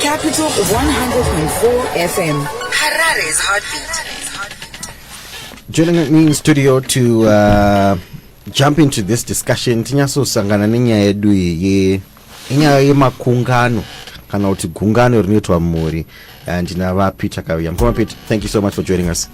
Capital 104 FM. Harare's heartbeat. Joining me in studio to uh, jump into this discussion tinyatsosangana nenyaya yedu iyi inyaya yemakungano kana kuti gungano rinoitwa mumhuri uh, ndinava peter kauya mukoma peter thank you so much for joining us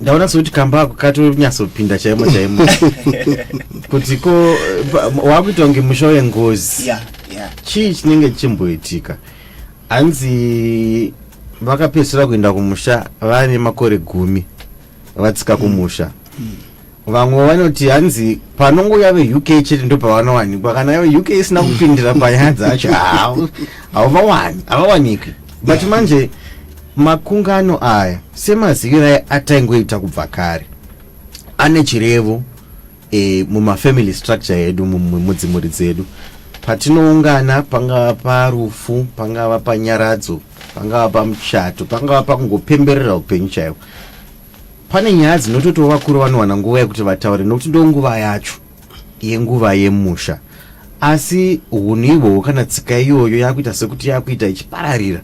ndaona sekuti kamba ako katonyatsopinda chaimo chaimo kuti ko wakuita kunge musha wengozi yeah, yeah. chii chinenge chichimboitika hanzi vakapedzisira kuenda kumusha vane makore gumi vatsika kumusha mm. vamwe vanoti hanzi panongouya veuk chete ndo pavanowanikwa kana veuk isina kupindira panyaya dzacho havavawani havawaniki but manje makungano aya semazivirai ataingoita kubva kare ane chirevo e, mumafamily structure edu mudzimuri dzedu patinoungana pangava parufu pangava panyaradzo pangava pamuchato pangava pakungopemberera upenyu chaivo Pane nyaya dzinototiwo vakuru vanowana nguva yekuti vataure nokuti ndo nguva yacho yenguva yemusha asi hunhu ihwohwo kana tsika iyoyo yakuita sekuti yakuita ichipararira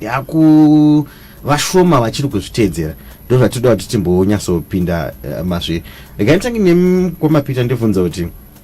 yaku vashoma vachiri kuzviteedzera ndo zvatinoda kuti timbonyatsopinda eh, mazviri regai nditange nemkwamapita ndivhunza kuti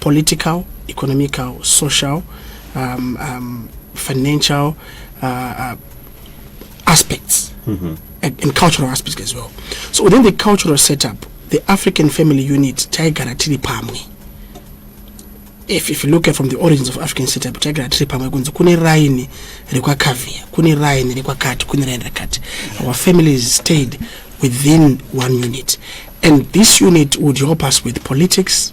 political economical social um, um, financial uh, uh, aspects mm -hmm. and, and cultural aspects as well so within the cultural setup the african family unit taigara tiri pamwe if, if you look at from the origins of african setup taigara tiri pamwe kunzi kune raini rekwakavia kune raini rekwakati kune raini rakati our families stayed within one unit and this unit would help us with politics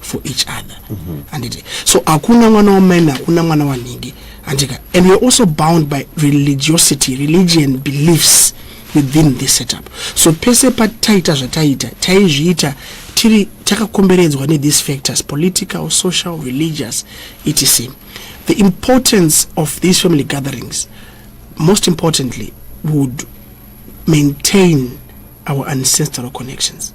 for each other handiti mm -hmm. so hakuna mwana wamaini hakuna mwana wanhingi handika and weare also bound by religiosity religion beliefs within this setup so pese pataita zvataiita taizviita tiri takakomberedzwa nethese factors political social religious etc the importance of these family gatherings most importantly would maintain our ancestral connections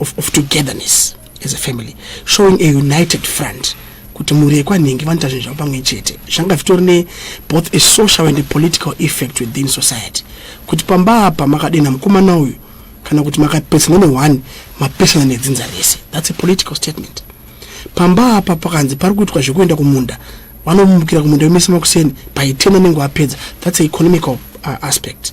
of, of togetherness as a family showing a united front kuti mhuri yekwanhingi vanoita zvinhu zvavo pamwe chete zvanga zvitori ne both a social and a political effect within society kuti pamba apa makadenha mukomana uyu kana kuti makapesana neone mapesana nedzinza rese thats a political statement pamba apa pakanzi pari kuitwa zvekuenda kumunda vanomumukira kumunda wemese makuseni by ten anenge apedza thats a economical uh, aspect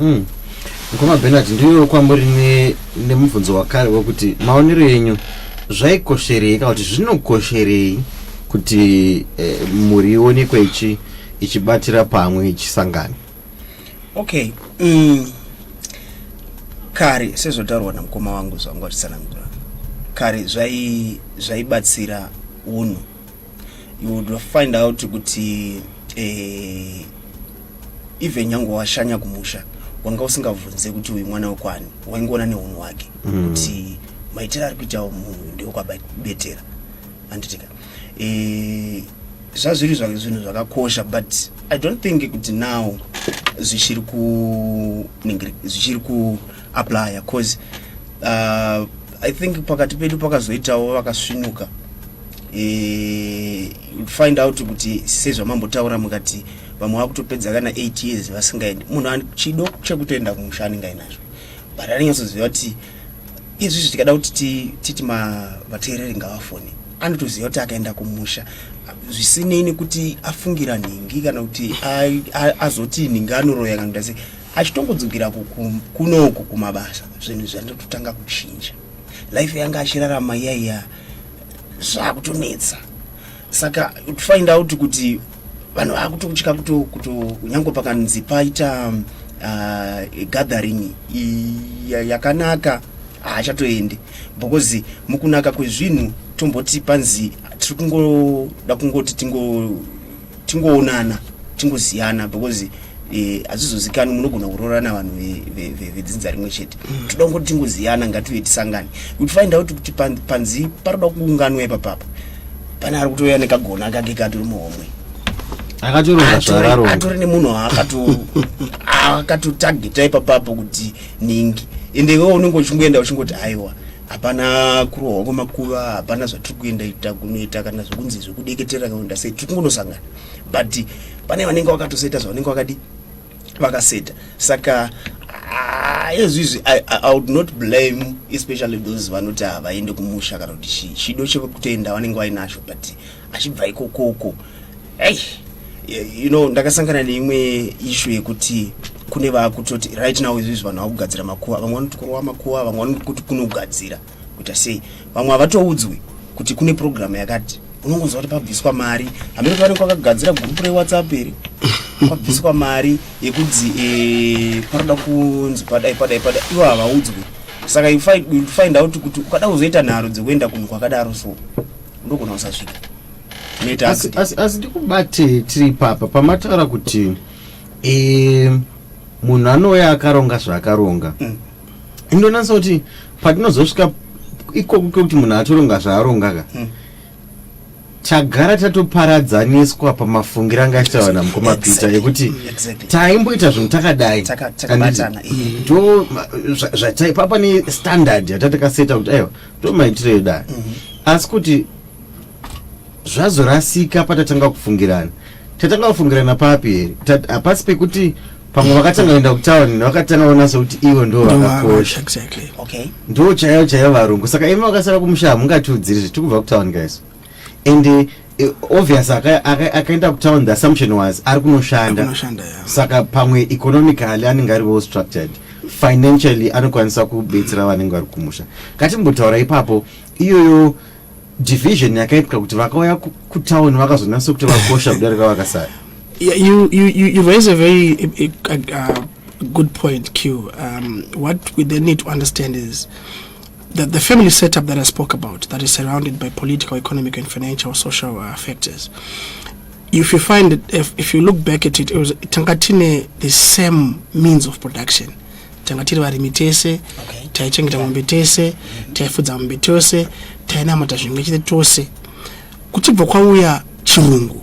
Mm. Mukoma Bernard ndiuyewo kwamuri nemubvunzo ne wakare wekuti maonero enyu zvaikosherei kana kuti zvinokosherei kuti eh, mhuri ionekwe ichi ichibatira pamwe ichisangana okay mm. kare sezvotaurwa namukoma wangu zvanga vachitsanangura kare zvaibatsira zvayi unhu you would find out kuti eh, even nyange washanya kumusha wanga usingabvunze kuti uyu mwana wekwani waingoona neunhu hwake mm. kuti mm. maitiro ari kuitawo munhu ndeokwabetera anditika eh, zvazviri zvake zvinhu zvakakosha but i don't think kuti now zvichiri kuningiri zvichiri ku aplaya cause uh, i think pakati pedu pakazoitawo vakasvinuka e, find out kuti sezvamambotaura mukati vamwe vakutopedza kana 8 years vasingaendi munhu chido chekutoenda kumusha anenge ainazvo but anonyatsoziva kuti izvi zvi tikada kuti titi vateereri ngavafoni anotoziva kuti akaenda kumusha zvisinei nekuti afungira nhingi kana kuti azoti nhingi anoroya kana kuti achitongodzokera kunoku kumabasa zvinhu zvandototanga kuchinja life yanga achirarama iyaiya zvakutonetsa saka to find out kuti vanhu vakutokutya kuto kunyange pakanzi paita uh, gathering yakanaka haachatoendi because mukunaka kwezvinhu tomboti panzi tiri kungoda kungoti tingo tingoonana tingoziyana because eh, hazvizozikani munogona kuroorana vanhu vedzinza rimwe chete mm. toda kungoti tingoziyana ngatiuye tisangane kuti find out kuti panzi paroda kuunganwa ipapapa pane ari kutouya nekagona kake katori muhomwe atori nemunhu akatotageta ipapapo kuti ningi ende iwewe unenge uchingoenda uchingoti aiwa hapana kurohwa kwemakuva hapana zvatiri kuenda ita kunoita kana zvekunzi zvekudeketera kaenda sei tiri kungonosangana but pane vanenge vakatoseta zvavanenge vakadi vakaseta saka ezvizvi ah, I, i would not blame especially those vanoti havaende kumusha kana kuti chido chekutoenda vanenge vainacho but achibva ikokoko hey you know ndakasangana neimwe issue yekuti kune vakutoti right now izvizvi vanhu vakugadzira makuva vamwe vanoti kurova makuva vamwe vanoti kuti kunogadzira kuita sei vamwe havatoudzwi kuti kune programu yakati unongonzwa kuti pabviswa mari hameno kuti vanenge vakagadzira gurupu rewhatsapp iri pabviswa mari yekunzi eh, panoda kunzi padai padai padai ivo havaudzwi saka you find out kuti ukada kuzoita nharo dzekuenda kunhu kwakadaro so ndogona kusasvika asi ndikubate tiri papa pamataura kuti e, munhu anouya akaronga zvaakaronga mm. indonatsa kuti patinozosvika ikoku kekuti munhu atoronga zvaaronga ka mm. tagara tatoparadzaniswa pamafungiro anga achitaura namukoma peter yekuti taimboita zvinhu takadai ndo zvataipapa nestandard yatatakaseta kuti aiwa ndomaitiro edu aya mhm. asi kuti zvazorasika patatanga kufungirana tatanga kufungirana papi here hapasi pekuti pamwe vakatanga kuenda kutown vakatanga kuona sekuti ivo ndo vakakosha ndo chaiyo chaiyo varungu saka imi vakasara kumusha hamungatiudziri zvitiri kubva kutown guys and uh, obvious akaenda aka, aka kutown the assumption was ari kunoshanda saka pamwe economically anenge ari well structured financially anokwanisa kubetsera vanenge vari kumusha ngatimbotaura ipapo iyoyo division yakaitwa kuti vakauya kutown vakazonatsa kuti vakosha kudarika vakasara yeah, you, you, you, you raise a very a, a, a good point q um, what we then need to understand is The, the family setup that I spoke about that is surrounded by political, economic and financial social uh, factors. If you find it, if, if you look back at it, it was Tangatine the same means of production. tanga tiri varimi tese taichengeta mombe tese taifudza mombe tose tainamata zvimwe chete tose kuchibva kwauya chirungu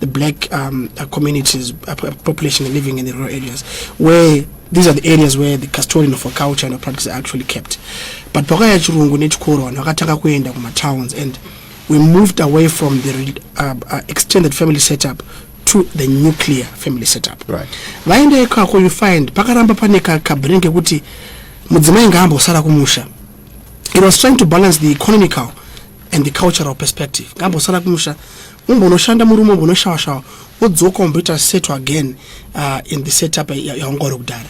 the black um, uh, communities, uh, population living in the rural areas, where these are the areas where the custodian of our culture and our practice are actually kept. But pakaya chirungu nechikoro vanhu vakatanga kuenda kumatowns and we moved away from the uh, uh, extended family setup to the nuclear family setup. Right. Vaenda ikako you find pakaramba pane kabhiri kekuti mudzimai ngaambosara kumusha. It was trying to balance the economical and the cultural perspective. Ngaambosara kumusha umbonoshanda murume umbonoshawashawa wodzoka umboita setu again uh, in the setup yaunga uri kudhara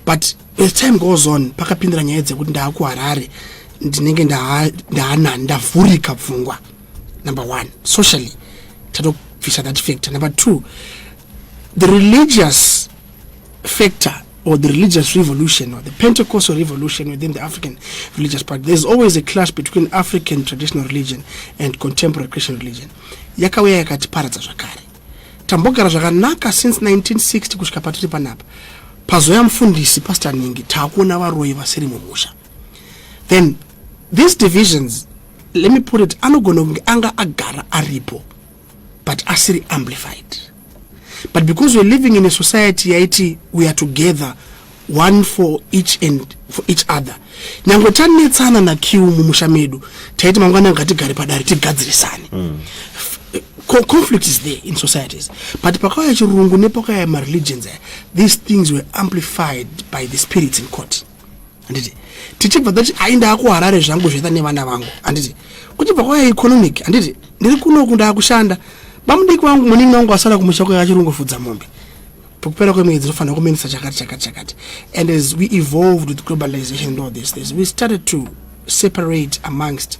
but as time goes on pakapindira nyaya dzekuti ndaakuharare ndinenge ndaanani ndavhurika pfungwa number one socially tatobvisa that factor number two the religious factor or the religious revolution or the Pentecostal revolution within the African religious practice. There's always a clash between African traditional religion and contemporary Christian religion. Yakauya yakatiparadza zvakare. Tambogara zvakanaka since 1960 kusvika patiri panapa. Pazoya mfundisi Pastor Ningi takuona varoyi vasiri mumusha. Then these divisions let me put it anogona kunge anga agara aripo. but asiri amplified but because we're living in a society yaiti we are together one for each and for each other nyange tanetsana nakiu mumusha medu taiti mangwana ngatigare padare tigadzirisane mm. conflict is there in societies but pakauya chirungu nepakauya mareligions these things were amplified by the spirits in court handiti tichibva tati ai ndaakuharare zvangu zvaita nevana vangu handiti kuchibva kwaya economic handiti ndiri kunoku ndaakushanda bamudiki vangu muningi wangu asara kumusha kwaya achirungofudza mombe pakupera kwemwedzi tinofanira kumenisa chakati chakati chakati and as we evolved with globalization and all this this we started to separate amongst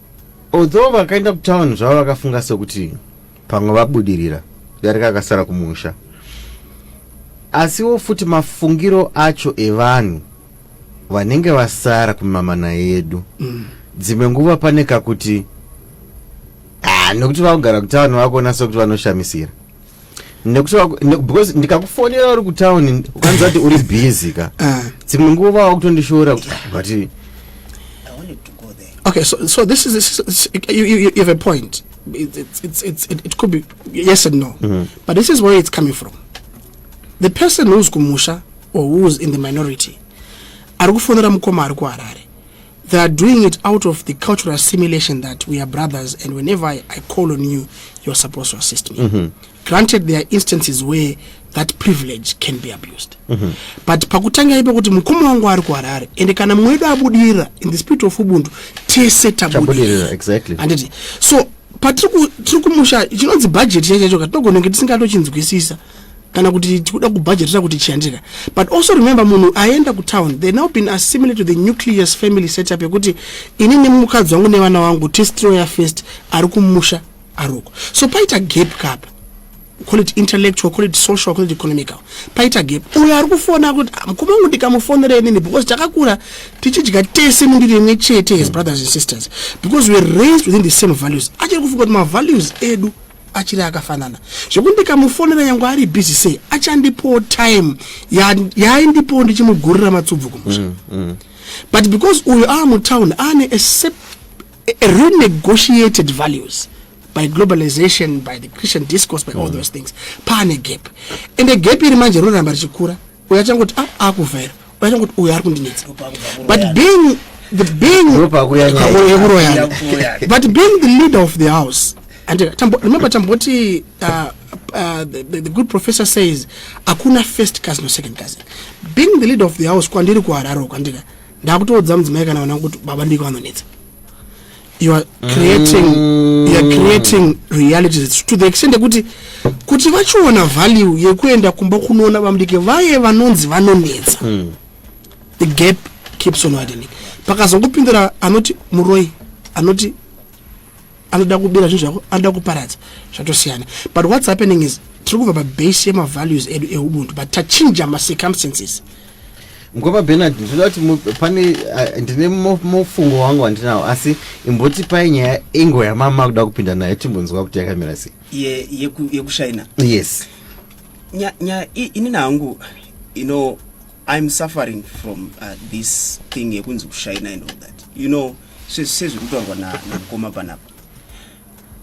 Although vakaenda kutown zvavo vakafunga sekuti pamwe vabudirira darika akasara kumusha asiwo futi mafungiro acho evanhu vanenge vasara kumamana yedu mm. dzimwe nguva pane kakuti ah, nokuti vakugara kutaani vakuona sekuti vanoshamisira nekuti because ndikakufonera uri kutown ukanzi ati uri busy ka ah. dzimwe nguva wakutondishora but okay so, so this is, this is you, you, you have a point it, it, it, it, it, it could be yes and no mm -hmm. but this is where it's coming from the person who's kumusha or who's in the minority ari kufonera mukoma ari kuharare They are doing it out of the cultural assimilation that we are brothers, and whenever I, I call on you, you're supposed to assist me. Mm -hmm. Granted, there are instances where that privilege can be abused. Mm -hmm. But pakutanga ipo kuti mukoma wangu ari kuharare and kana mumwe wedu abudirira in the spirit of ubuntu tese tabudirira exactly. anditi so patiri kumusha chinonzi budget chaicho chacho katinogonenge tisingatochinzwisisa kana kuti tikuda kubhajetera kuti chiandika but also remember munhu aenda kutown they now been assimilate to the nucleus family setup yekuti ini nemukadzi wangu nevana wangu testiroya first ari kumusha aroko so paita gap kapa call it intellectual call it social call it economical paita gap uyo ari kufona kuti ah, mukoma wangu ndikamufonera inini because takakura tichidya tese mundiri imwe chete his brothers and sisters because weare raised within the same values achiri kufunga kuti mavalues edu achiri akafanana zvekuti ndikamufonera nyangwe ari busy sei achandipowo time yaaindipowo ndichimugurira matsubvu kumusha mm, mm. but because uyo aa mutown aane renegotiated values by globalization by the christian discourse by all mm. those things paane gap and gap iri manje rinoramba richikura uyo achangoti a ah, akuvhaira uyo achangoti uyo ari kundinetsa but being the being yekuroyana but being the leader of the house and uh, tambo, remember tamboti uh, uh, the, the, the good professor says hakuna first cousin or second cousin being the leader of the house kwandiri kuhararo kwandika ndakutoudza mudzimai kana vanangu kuti baba ndiko vanonetsa you are creating mm. you are creating reality to the extent yekuti kuti vachiona value yekuenda kumba kunoona vamudiki vaye vanonzi vanonetsa mm. the gap keeps on widening pakazongopindura anoti muroi anoti anoda kubira zvinhu zvako anoda kuparadza zvatosiyana but what's happening is tiri kubva pabase yemavalues edu eubuntu but tachinja macircumstances Mkwapa Bernard ndinoda kuti mu- pane ah, ndine mo- mufungo wangu wandinawo asi imbotipai nyaya ingo yamama kuda kupinda nayo timbonzwa kuti yakamira sei ye- yeku- yekushaina yes Nya- nya- i- inini hangu you know i'm suffering from uh, this thing yekunzi kushaina and all that you know se- sezviri kutaurwa na- namukoma panapa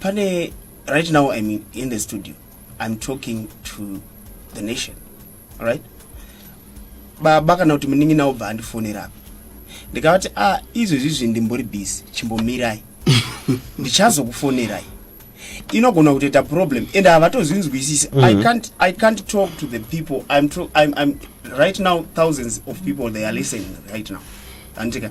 pane right now i'm in, in the studio i'm talking to the nation right baba kana kuti munin'ina obva andifonera apa ndikavati a ah, izvezvi izvi ndimbori busy chimbomirai ndichazokufonerai inogona kutoita problem and havatozvinzwisisi mm -hmm. I, mhm. i can't talk to the people I'm, I'm, I'm, right now thousands of people they are listening right now andika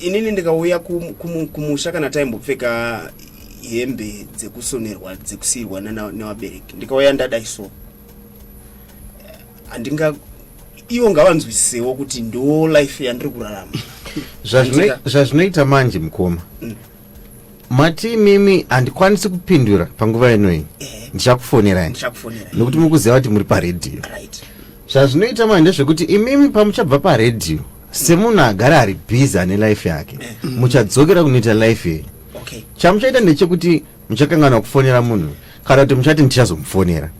inini ndikauya kumusha kana taimbopfeka hembe dzekusonerwa dzekusiirwa nevabereki ndikauya ndadai so handinga ivo ngavanzwisisewo kuti ndo life yandiri kurarama zvazvinoita manje mukoma mm. mati imimi handikwanisi kupindura panguva ino iyi eh. ndichakufonerai nokuti mukuziva kuti muri paredhiyo zvazvinoita manje zvekuti imimi pamuchabva paredhiyo semunhu agara ari bhizi ane life yake eh. muchadzokera kunoita life yenyu chamuchaita ndechekuti muchakanganwa kufonera munhu kana kuti muchati ndichazomufonera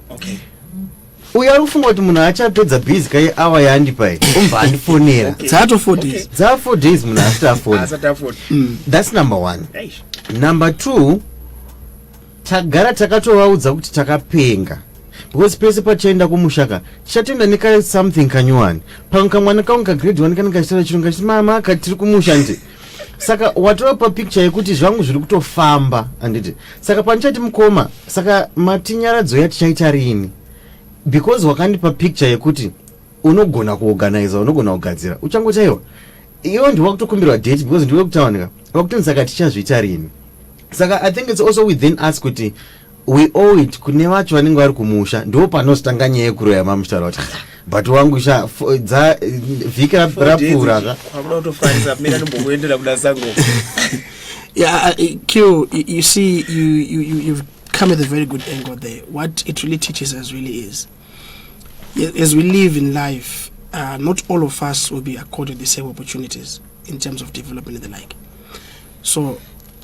uyo ari kufunga kuti munhu achapedza busy kai awa yandipa iyi umbva andifonera dzaato four days dzaa four days munhu asati afona mm. thats number one number two tagara takatovaudza kuti takapenga because pese pachaenda kumushaka tichatoenda neka something kanyowani pamwe kamwana kangu kagrade one kanenge achitaura chirunga chiti mama katiri kumusha nje saka watopa picture yekuti zvangu zviri kutofamba anditi saka pandichati mukoma saka matinyaradzo yatichaita riini because wakandipa picture yekuti unogona kuorganiza unogona kugadzira uchangochaiwa iwe ndiwa kutokumbirwa date because ndiwe kutawanika wakutonzi saka tichazviita riini saka i think its also within us kuti like, we owe it kune vacho vanenge vari kumusha ndo panozotanga nyaya yekuroya mamuchitaura kuti but wangu sha fo- dza vhiki rap- rapfuura ka kwakuda kutofarisa mina ndimbokuendera kuda sango Yeah, uh, uh, Q, you, you see, you, you, you, you've come at a very good angle there. What it really teaches us really is, y- as we live in life, uh, not all of us will be accorded the same opportunities in terms of development and the like. So,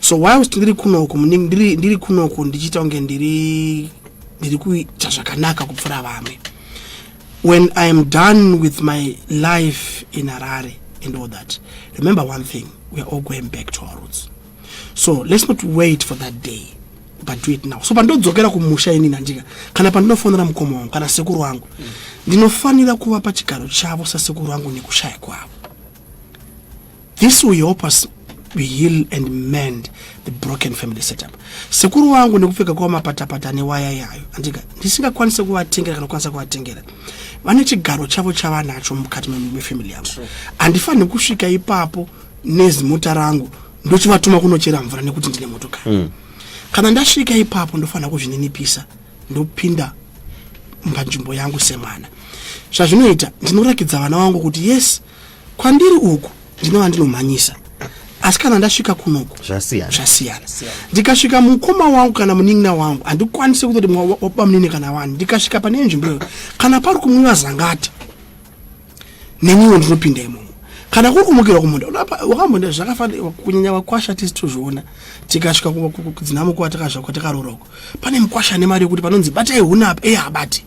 so whilst ndiri kunoku muningi ndiri, ndiri kunoku ndichiita kunge ndiri ndiri kuita zvakanaka kupfuura vamwe when i am done with my life in harare and all that remember one thing we are all going back to our roots so let's not wait for that day but do it now so pandodzokera kumusha inini handika kana pandinofonera mukoma wangu kana sekuru wangu ndinofanira kuva pachigaro chavo sasekuru wangu nekushaya kwavo This will help us heal and mend the broken family setup sekuru wangu nekupfeka kwavo mapatapata newaya yayo andika ndisingakwanise kuvatengera kana kukwanisa kuvatengera vane chigaro chavo chavanacho mukati mefamily yavo handifanire kusvika ipapo nezimota rangu ndochivatuma kunochera mvura nekuti ndine motokari mm. kana ndasvika ipapo ndofanira kuzvininipisa ndopinda panzvimbo yangu semwana zvazvinoita ndinorakidza vana vangu kuti yes kwandiri uku ndinova ndinomhanyisa asi kana ndasvika kunoku zvasiyana ndikasvika mukoma wangu kana munin'ina wangu handikwanise kutoti mwabamunini kana wani ndikasvika pane nzvimbo iyo kana pari kumwiva zangati neniwo ndinopinda imomo kana kuri kumukira kumunda wakambonda zvakafanira kunyanya vakwasha tisi tozviona tikasvika kudzinamukwa takazvakwa takaroora uko pane mukwasha ane mari yekuti panonzi batai huna apa eyi habati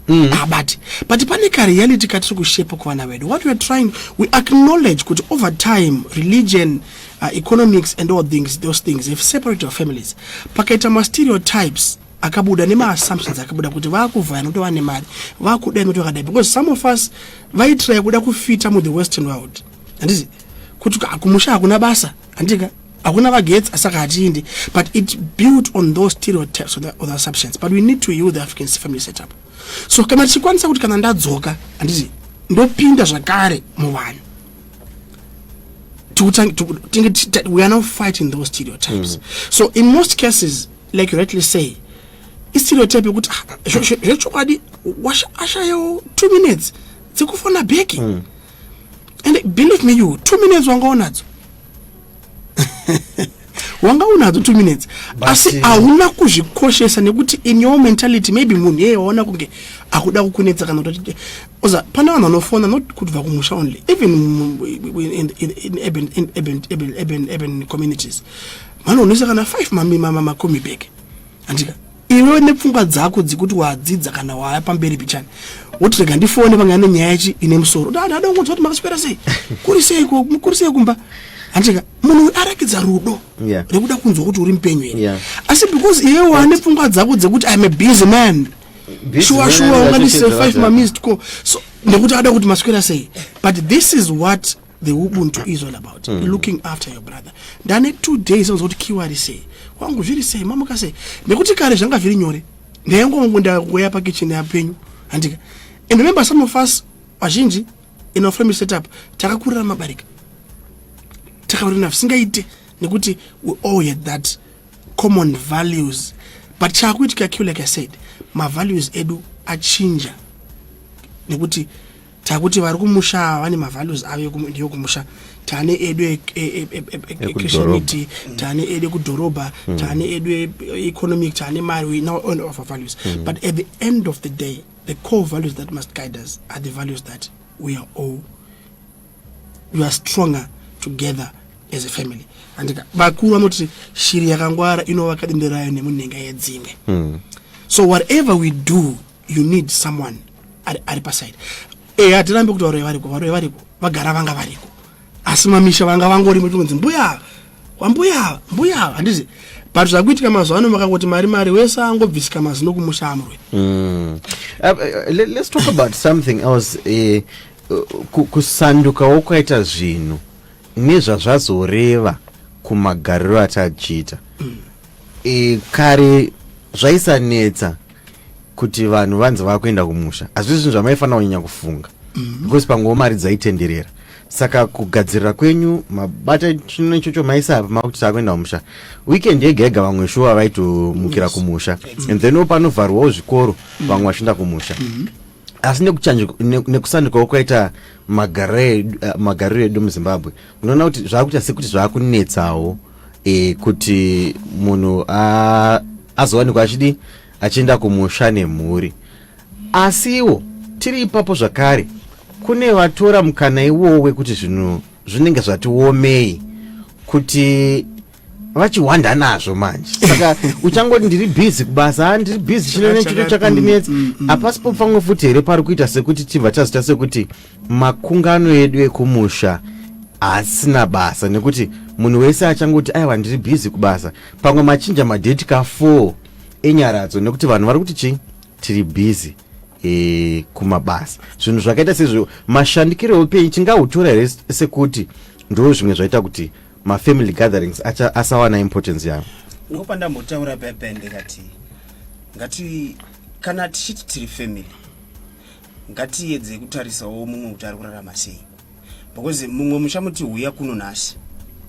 Mm. Ah, but but pane kareality katiri kushepa kuvana vedu what weare trying we acknowledge kuti over time religion uh, economics and all things those things have separate our families pakaita mastereotypes akabuda nemaassumptions akabuda kuti vakuvhaya nokuti vane mari vakudai nokuti vakadai because some of us vaitiraya kuda kufita muthe western world handizi kuti kumusha hakuna basa handika hakuna vagetsi asaka hatiindi but it built on those stereotypes or the, or the assumptions but we need to use the african family setup so kana tichikwanisa kuti kana ndadzoka handiti ndopinda zvakare muvanhu we are now fighting those stereotypes mm. so in most cases like you rightly say istereotype yekuti ah, zvechokwadi ashayawo two minutes dzekufona beki mm. and believe me you two minutes wanga unadzo wanga unadzo two minutes asi eh, hauna kuzvikoshesa nekuti in your mentality maybe munhu yeye waona kunge akuda kukunetsa kana kuti oza pane vanhu vanofona not kutibva kumusha only even in communities vanoonesa kana five macomi bag andika iwe nepfungwa dzako dzekuti wadzidza kana waya pamberi pichani woti rega ndifone pange ane nyaya chi ine musoro dada ada kungonzwa kuti makaswera sei kuri sei kuri sei kumba handicheka munhu uyu arakidza rudo yeah. rekuda kunzwa kuti uri mupenyu here yeah. asi because iwe wane pfungwa dzako dzekuti iam a busy man shuwa shuwa unganise five mamised co so nekuti ada kuti maswera sei but this is what the ubuntu is all about mm. looking after your brother ndane two days anonzwa kuti kiwa ari sei wangu zviri sei mamuka sei nekuti kare zvanga zviri nyore ndayangongu ndakuya pakicheni yapenyu handika and remember some of us vazhinji in our family setup takakurira mabarika takaurina zvisingaite nekuti we all had that common values but chaakuitika kiwa like i said mavalues edu achinja nekuti takuti vari kumusha vane mavalues avo ndiyo kumusha tane edu e, e, e, echristtianity tane edu ekudhorobha hmm. tane edu economic tane mari we now own of our values hmm. but at the end of the day the core values that must guide us are the values that we are all we are stronger together as a family andika vakuru vanoti shiri yakangwara inovaka dende rayo nemunhenga yedzimwe hmm. so whatever we do you need someone ari, ari paside ehe hatirambi kuti varoyi variko varoyi variko vagara vanga variko asi mamisha vanga vangori mutonzi mbuya kwambuya mbuya handizi but zvakuitika mazuva ano makangoti mari mari wese angobvisika mazino kumusha amurwe mm. uh, uh, let's talk about something else eh, uh, kusandukawo kwaita zvinhu nezvazvazoreva kumagariro atachiita mm. e, kare zvaisanetsa kuti vanhu vanzi vakuenda kumusha hazvii zvinhu zvamaifanira kunyanya kufunga mm. because panguva mari dzaitenderera saka kugadzirira kwenyu mabata chino ichocho maisapa makuti takuenda kumusha weekend yega yega vamwe shuwa vaitomukira yes. kumusha exactly. and then panovharwawo zvikoro mm. vamwe vachienda kumusha mm -hmm asi nekusandikawo kwaita magariro edu muzimbabwe unoona kuti zvakuita sekuti zvakunetsawo e, kuti munhu azowanikwa achidi achienda kumusha nemhuri asi iwo tiri ipapo zvakare kune vatora mukana iwowo wekuti zvinhu zvinenge zvati womei kuti vachihwanda nazvo manje saka uchangoti ndiri bhizi kubasa ah, ndiri bhizi chino nechito chakandinetsa mm, mm, mm. hapasi pofanwe futi here pari kuita sekuti tibva tazita sekuti makungano edu ekumusha haasina basa nekuti munhu wese achangoti aiwa ndiri bhizi kubasa pamwe machinja madheti ka4 enyaradzo nekuti vanhu vari kuti chii tiri bhizi e, eh, kumabasa zvinhu zvakaita sezvo mashandikiro eupenyu tingautora here sekuti ndo zvimwe zvaita kuti mafamily gatherings asawana importance yavo ndiko pandambotaura pepende kati ngati kana tichiti tiri family ngatiedzei kutarisawo mumwe kuti ari kurarama sei because mumwe muchamuti huya kuno nhasi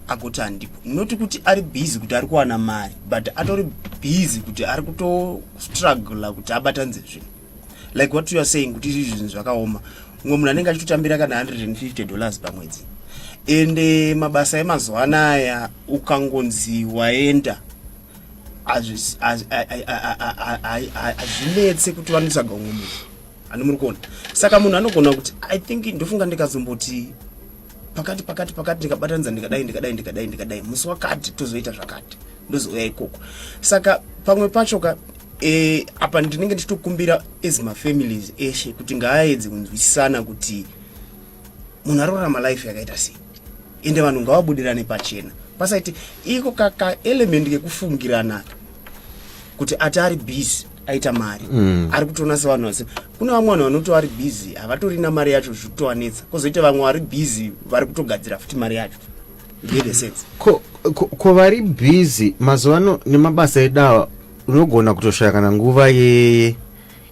agoti handipo not kuti ari busy kuti ari kuwana mari but atori busy kuti ari kutostruggla kuti abatanze zvinhu like what you are saying kuti izvi zvinhu zvakaoma mumwe munhu anenge achitotambira kana 150 dollars pamwedzi ende mabasa emazuva anaya ukangonzi waenda hazvinetse kuti vanotsvaga umwe munhu ani muri kuona saka munhu anogona kuti i think ndofunga ndikazomboti pakati pakati pakati ndikabatanidza ndikadai ndikadai ndikadai ndikadai musi wakati tozoita zvakati ndozouya ikoko saka pamwe pacho ka e, apa ndinenge ndichitokumbira as mafamilies eshe kuti ngaaedze kunzwisisana kuti munhu ari kurarama life yakaita sei ende vanhu ngavabudirane pachena pasaiti iko kaka element kekufungirana kuti ati ari busy aita mari mm. ari kutoona sevanhu vase kune vamwe vanhu vanoti vari busy havatori na mari yacho zvikutowanetsa kozoita vamwe vari busy vari kutogadzira futi mari yacho ko, ko, ko vari busy mazuva ano nemabasa edawa unogona kutoshaya kana nguva yeye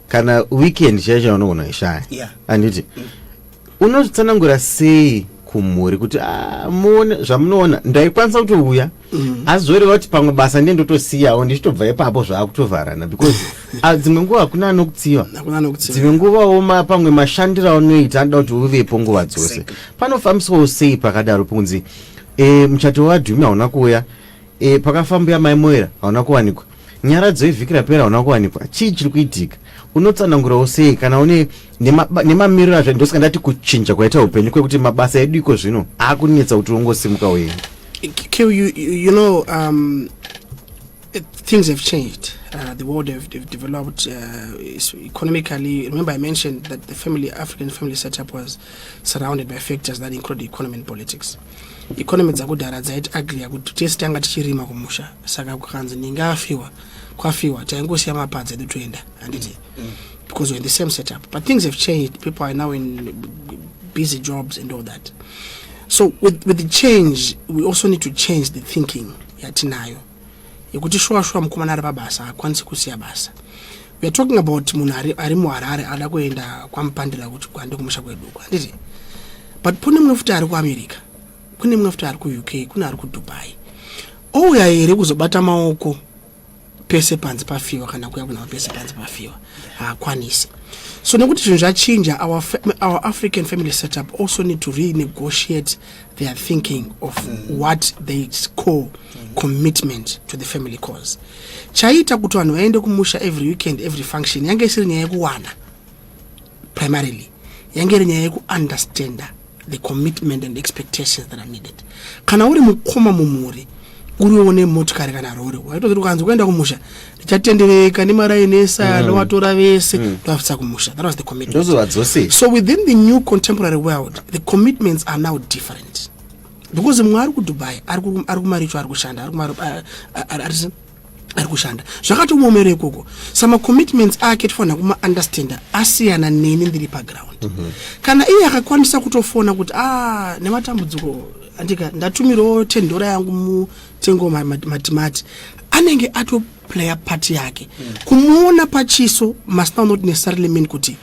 kana weekend chaiyo chaunogona kuishaya yeah. anditi mm. unozvitsanangura sei kumhuri kuti ah, muone zvamunoona ndaikwanisa kutouya mm. asi zvoreva kuti pamwe basa ndiye ndotosiyawo ndichitobva ipapo zvaakutovharana because ah, dzimwe nguva hakuna anokutsiva dzimwe nguva oma pamwe mashandiro aunoita anoda kuti uvepo nguva dzose panofambiswawo sei pakadaro pokunzi e, muchato wadhumi hauna kuuya e, pakafambuya mai moera hauna kuwanikwa Nyaradzo yevhiki rapera hauna kuwanikwa, chii chiri kuitika? Unotsanangurawo sei kana une nemamiriro azvo? Ndosaka ndati kuchinja kwaita upenyu kwekuti mabasa edu iko zvino akunetsa kuti ungosimuka uye Kill you, you, you know, um, it, things have changed. Uh, the world have, have developed uh, economically. Remember, I mentioned that the family African family setup was surrounded by factors that include economy and politics. economy dzakudhara dzaiti ugly yakuti tese tanga tichirima kumusha saka kukanzi ninge afiwa kwafiwa taingosiya mapadzi edu toenda handiti mm. because we're in the same setup but things have changed people are now in busy jobs and all that so with, with the change we also need to change the thinking yatinayo yekuti shuwa shuwa mukomana ari pabasa akwanisi kusiya basa we are talking about munhu ari, ari muharare ada kuenda kwamupandira kuti kwande kumusha kwedu uko handiti but kune mumwe futi ari kuamerica kune mumwe futi ari kuuk kune ari kudubai ouya here kuzobata maoko pese panzi pafiwa kana kuya kunava pese panzi pafiwa haakwanisi so nekuti zvinhu zvachinja our, our african family setup also need to renegotiate they are thinking of mm. what they call mm. commitment to the family cause chaiita kuti vanhu vaende kumusha every weekend every function yange isiri nyaya yekuwana primarily yange iri nyaya yekuunderstanda the commitment and expectations that are needed kana uri mukoma mumhuri uriwo nemotikari kana rori waitozivi ukanzi kuenda kumusha tichatendereka nemaraini ese mm. anovatora mm. vese mm. ndovabvisa kumusha that was the commitment so within the new contemporary world the commitments are now different because mumwe ari kudubai ari kumaricho ari kushanda ari kumari ari kushanda zvakatomuomero ikoko samacommitments ake tifanira kumaunderstanda asiyana neni ndiri paground mm -hmm. kana iye akakwanisa kutofona kuti a ah, nematambudziko andika ndatumirawo tendora yangu Tengo Matimati anenge ato player part yake mm. kumuona pachiso must now not necessarily mean kuti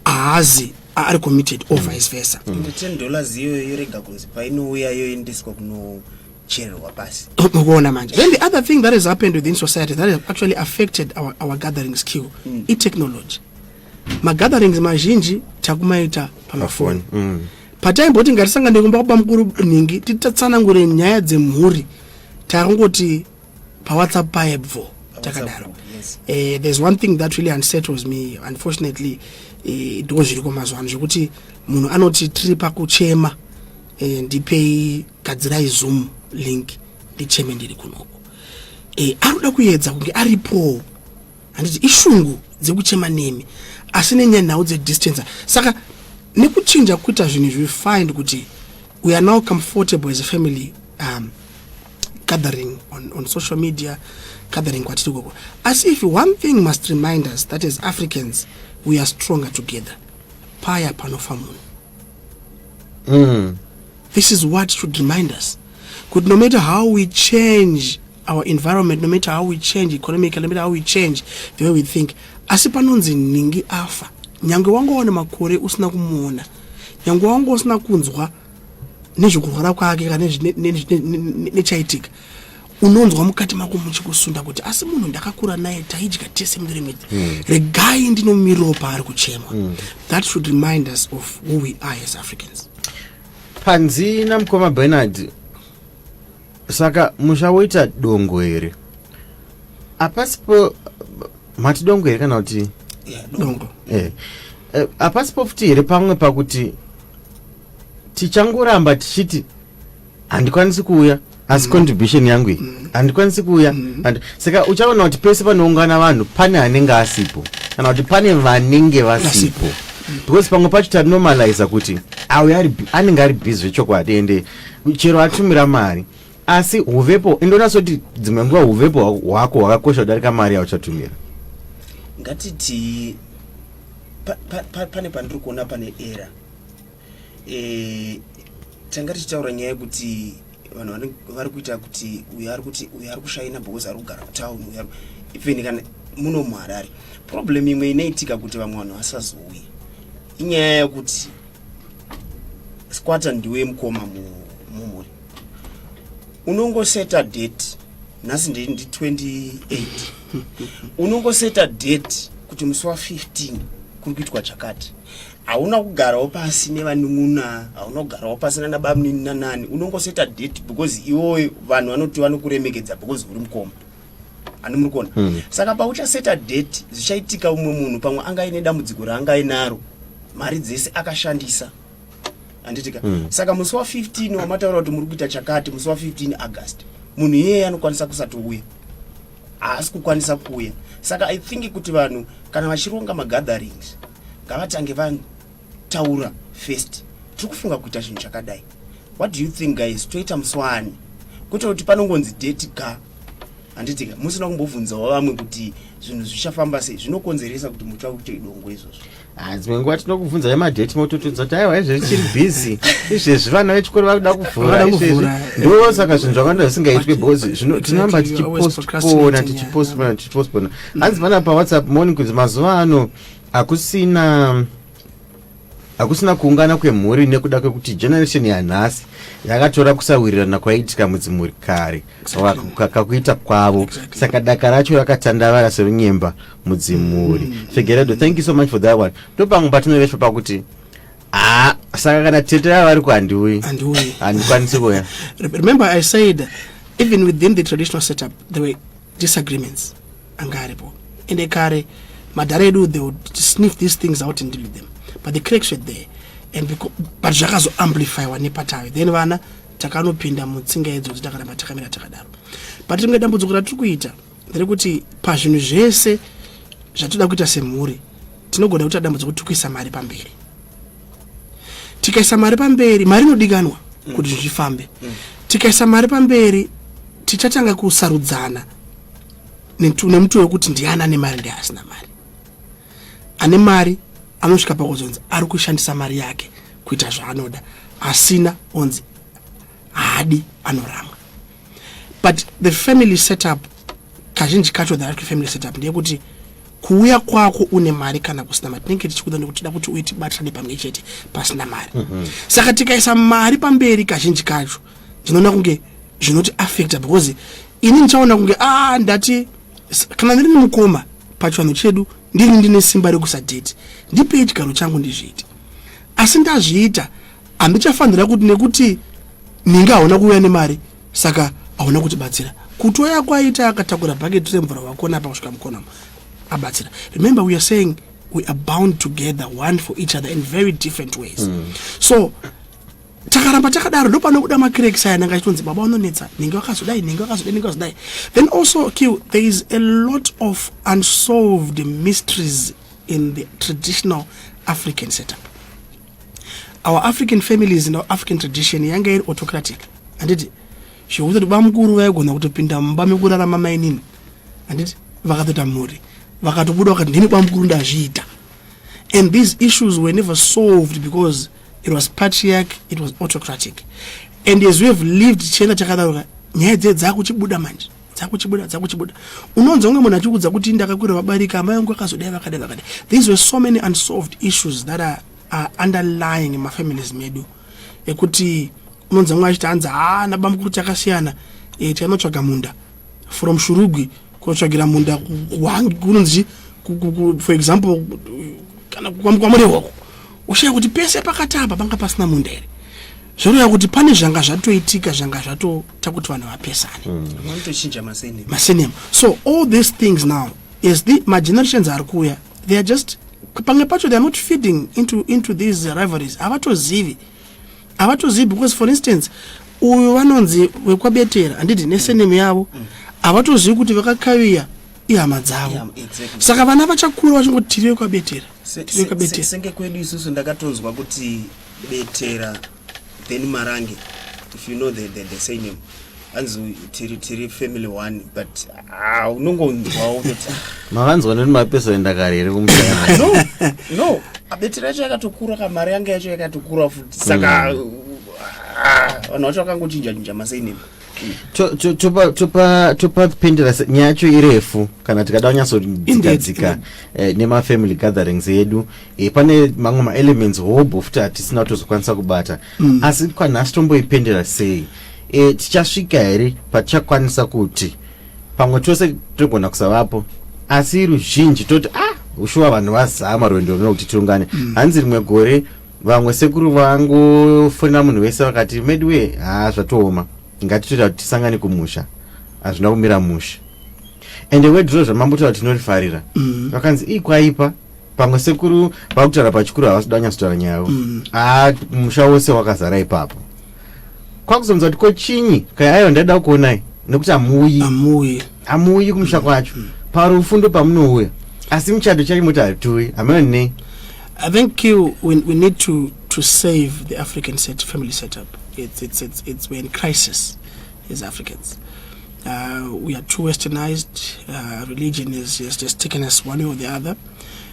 haazi ari committed or vice versa mm. the 10 dollars iyoyo yorega kunzi painouya yoendeswa kuno kuchererwa pasi mukuona manje then the other thing that has happened within society that has actually affected our, our gathering skill mm. itechnology magatherings mazhinji takumaita pamafoni mm. pataimboti ngatisangane kumba kuba mukuru nhingi titatsanangure nyaya dzemhuri takungoti pawhatsapp paye bvo takadaro eh, there's one thing that really unsettles me unfortunately eh, ndo zviriko mazuva ano zvekuti munhu anoti tiri pakuchema eh, ndipei gadzirai zoom link ndicheme ndiri kunoko anoda kuedza kunge aripowo handiti ishungu dzekuchema nemi asi nenyaya nhau dzedistance saka nekuchinja kuita zvinhu izvi find kuti we are now comfortable as a family um, gathering on, on social media gathering kwatiri koko asi if one thing must remind us that as africans we are stronger together paya panofa munhu mm. this is what should remind us Could no matter how we change our environment no matter how we change economically no matter how we change the way we think asi panonzi nhingi afa nyange wangowana makore usina kumuona nyange wanga usina kunzwa nezvekurwara kwake kana nechaitika unonzwa mukati mako muchikusunda kuti asi munhu ndakakura naye taidya tese mudirimidzi mm. regai ndinomirirwo paari kuchema mm. that should remind us of who we are as africans panzi namukoma benard saka musha woita dongo here apasipo mati dongo here kana kuti yeah, dongo yeah. Eh, hapasipo futi here pamwe pakuti tichangoramba tichiti handikwanisi kuuya asi mm. contribution yangu iyi mm. handikwanisi kuuya mm. saka uchaona kuti pese panoungana vanhu pane anenge asipo kana kuti pane vanenge vasipo because pamwe pacho tanormaliza kuti auya anenge ari busy zvechokwadi ende chero atumira mari asi huvepo indoona soti dzimwe nguva huvepo hwako hwakakosha kudarika mari yauchatumira ngatiti pane pandiri kuona pane era Eh, tanga tichitaura nyaya yekuti vanhu vari kuita kuti uyo ari kuti uyo ari kushaina because ari kugara kutown uyo even kana muno muharare problem imwe inoitika kuti vamwe vanhu vasazouye inyaya yekuti squater ndiwe mukoma mumhuri unongoseta date nhasi ndi 28 unongoseta date kuti musi wa 15 kuri kuitwa chakati hauna kugarawo pasi nevanun'una hauna kugarawo pasi nana bamunini nanani unongoseta date because iwoyo vanhu vanoti vanokuremekedza because uri mukoma ani muri kuona mm. saka pauchaseta date zvichaitika umwe munhu pamwe anga aine dambudziko raanga ainaro mari dzese akashandisa anditika mm. saka musi wa 15 wamataura kuti muri kuita chakati musi wa 15 august munhu iyeye anokwanisa kusatouya haasi kukwanisa kuuya saka i think kuti vanhu kana vachironga magatherings ngavatange vataura first tiri kufunga kuita chinhu chakadai what do you think guys toita muswani kwete kuti panongonzi date ka handitika musina kumbobvunzawo vamwe kuti zvinhu zvichafamba sei zvinokonzeresa kuti mutsva kuite idongo izvozvo Ah, dzimwe nguva tinokubvunzai madheti mototudza kuti aiwa izvezvi chiri busy izvezvi vana vechikoro vakuda kuvhura izvezvi ndo saka zvinhu zvakanda zvisingaitwe bcause tinoramba tichipostpona tichipostpona tichipostpona hanzi pana pawhatsapp moni kunzi mazuva ano hakusina hakusina kuungana kwemhuri nekuda kwekuti generation yanhasi yakatora kusawirirana kwaiitika mudzimhuri kare kakuita kwavo saka daka racho rakatandavara serunyemba mudzimuri mm. figeredo thank you so much for that one ndopamwe patinoveswa pakuti haa ah, saka kana tete rava vari kuhandiuyi handikwanisi kuya remember i said even within the traditional setup there were disagreements anga aripo ende kare madhara edu they would sniff these things out and deal with them but the cracks were there and but zvakazoamplifywa nepatavi then vana takanopinda mutsinga idzo kuti takaramba takamira takadaro but rimwe dambudziko ratiri kuita nderekuti pazvinhu zvese zvatinoda kuita semhuri tinogona kuita dambudziko kuti kuisa mari pamberi tikaisa mari pamberi mari inodikanwa mm. kuti zvifambe mm. tikaisa mari pamberi tichatanga kusarudzana nemutoo wekuti ndiani ane mari ndiasina mari ane mari anosvika pakuzonzi ari kushandisa mari yake kuita zvaanoda asina onzi haadi anoramwa but the family setup kazhinji kacho the family setup ndeyekuti kuuya kwako une mari kana kusina mari tinenge tichikuda nekuti tida kuti uitibatirane pamwe chete pasina mari mm -hmm. saka tikaisa mari pamberi kazhinji kacho ndinoona kunge zvinoti affecta because ini ndichaona kunge a ah, ndati kana ndiri nemukoma pachivanhu chedu ndini ndine simba rekusadheti ndipei chigaro changu ndizviiti asi ndazviita handichafanira kuti nekuti ninge hauna kuuya nemari saka hauna kutibatsira kutoya kwaita akatakura bhaketi remvura wakona apa kusvika mukonamo abatsira remember we are saying we are bound together one for each other in very different ways mm. so takaramba takadaro ndopanobuda macraks aya nanga chitonzi baba unonetsa ninge wakazodai ninge wakazodai ninge wakazodai then also q there is a lot of unsolved mysteries in the traditional african setup our african families in our african tradition yanga iri autocratic handiti zvekuti kuti bamukuru vaigona kutopinda mumba mekurarama mainini handiti vakatoita mhuri vakatobuda vakati ndini bamukuru ndazviita and these issues were never solved because it was patriarch it was autocratic and as we have lived tichienda chakadaroka nyaya dzee dzaakuchibuda manje dzakuchibuda dzakuchibuda unonzwa kunge munhu achikudza kuti ndakakwira vabarika amai vangu vakazodai vakadai vakadai these were so many unsolved issues that are, are underlying in mafamilies medu ekuti unonzwa kunge achiti hanzi haa nabamukuru chakasiyana e, eh, tikainotsvaga munda from shurugwi kunotsvagira munda kunonzi for example kana kwamurehwako ushaya kuti pese pakatamba panga pasina munda here zvoreva kuti pane zvanga zvatoitika zvanga zvato takuti vanhu vapesane vanotochinja mm. masenema masenema so all these things now as the magenerations ari kuuya they are just pamwe pacho they are not feeding into, into these rivalries havatozivi havatozivi because for instance uyu vanonzi wekwabetera handiti nesenemu mm. yavo mm. havatozivi mm. kuti vakakaviya ihama dzavo yeah, exactly. saka vana vachakura vachingoti tiri vekwabetera tiri vekwabetera senge kwedu isusu ndakatonzwa kuti betera Then Marange, if you know the, the, the same name, anzi tiri, tiri family one but ah, unongonzwawo kutoti ah. makanzwa neni mapesoni ndakari here kumusana no no abetiri yacho yakatokura ka mari yange yacho yakatokura futi saka mm. ah, vanhu vacho vakangochinja chinja masainema topapindira nyaya yacho irefu kana tikada kunyatsodzikadzika eh, nemafamily gatherings edu eh, pane mamwe maelements hobho futi hatisina kutozokwanisa kubata mm. asi kwanhasi tomboipendera sei eh, tichasvika here patichakwanisa kuti pamwe tose togona kusavapo asi ruzhinji toti ah ushuwa vanhu vazama rwendo runo kuti tiungane mm. hanzi rimwe gore vamwe sekuru vangofonera munhu wese vakati medi wee haa zvatooma ngatitoita kuti tisangane kumusha hazvina kumira musha ende wedro zvamambotaura tinorifarira mm. vakanzi ii kwaipa pamwe sekuru vakutaura pachikuru havasi danyatsotaura nyaya yavo mm. haa musha wose wakazara ipapo kwakuzonzwa kuti ko chinyi kaiaiwa ndaida kukuonai nekuti hamuuyi hamuuyi kumusha mm. kwacho mm. parufu ndo pamunouya asi muchato chacho moti hatiuyi hameno nei i think you, we, we need to, to save the african set, family setup it's, it's, it's, it's we're in crisis as africans uh, we are too westernized uh, religion is, is just taken as one or the other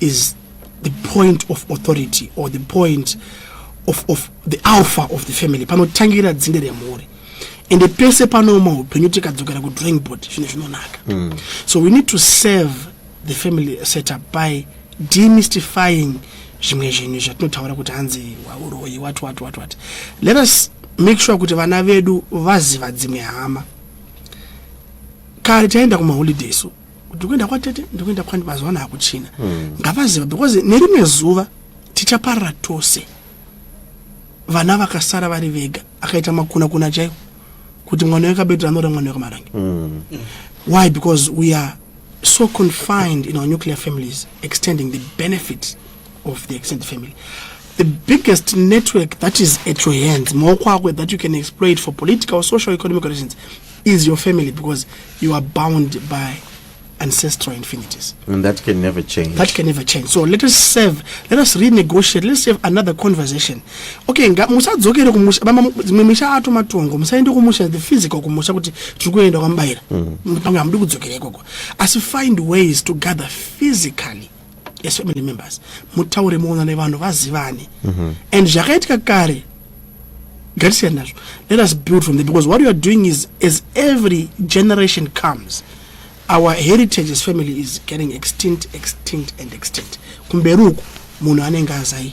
is the point of authority or the point of, of the alpha of the family panotangira dzinde remhuri ende pese panooma upenyu tikadzokera kudrawing board zvinhu zvinonaka mm. so we need to serve the family setup by demystifying zvimwe zvinhu zvatinotaura kuti hanzi wauroyi wat wat wat wat let us make sure kuti vana vedu vaziva dzimwe hama kare taenda kumaholiday so kuti kuenda kwatete ndikuenda kwandi mazuva ano hakuchina hmm. ngavaziva because nerimwe zuva tichaparara tose vana vakasara vari vega akaita makuna kuna chaiwo kuti mwana wekabetura anora mwana wekamarange hmm. why because we are so confined in our nuclear families extending the benefit of the extended family the biggest network that is at your hands maoko ako that you can exploit for political social economic reasons is your family because you are bound by ancestral infinities. And that can never change. That can never change. So let us serve, let us renegotiate, let's have another conversation. Okay, nga musadzokere kumusha mama dzimwe misha ato matongo, musaende kumusha the physical kumusha kuti tiri kuenda kwamubaira. Mm. Mutongo amudi kudzokera ikoko. Asi find ways to gather physically. as family members mutaure muonane vanhu vazivane mm -hmm. and zvakaitika kare ngatisiyani nazvo let us build from there because what you are doing is as every generation comes our heritage as family is getting extinct extinct and extinct kumberi uku munhu anenge azai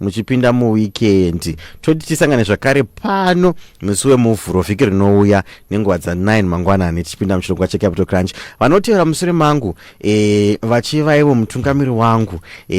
muchipinda muwikendi toti tisangane zvakare pano musi wemuvhuro vhiki rinouya nenguva dza9 mangwanani tichipinda muchirongwa checapital crunch vanotevera musure mangu e, vachivaivo mutungamiri wangu e,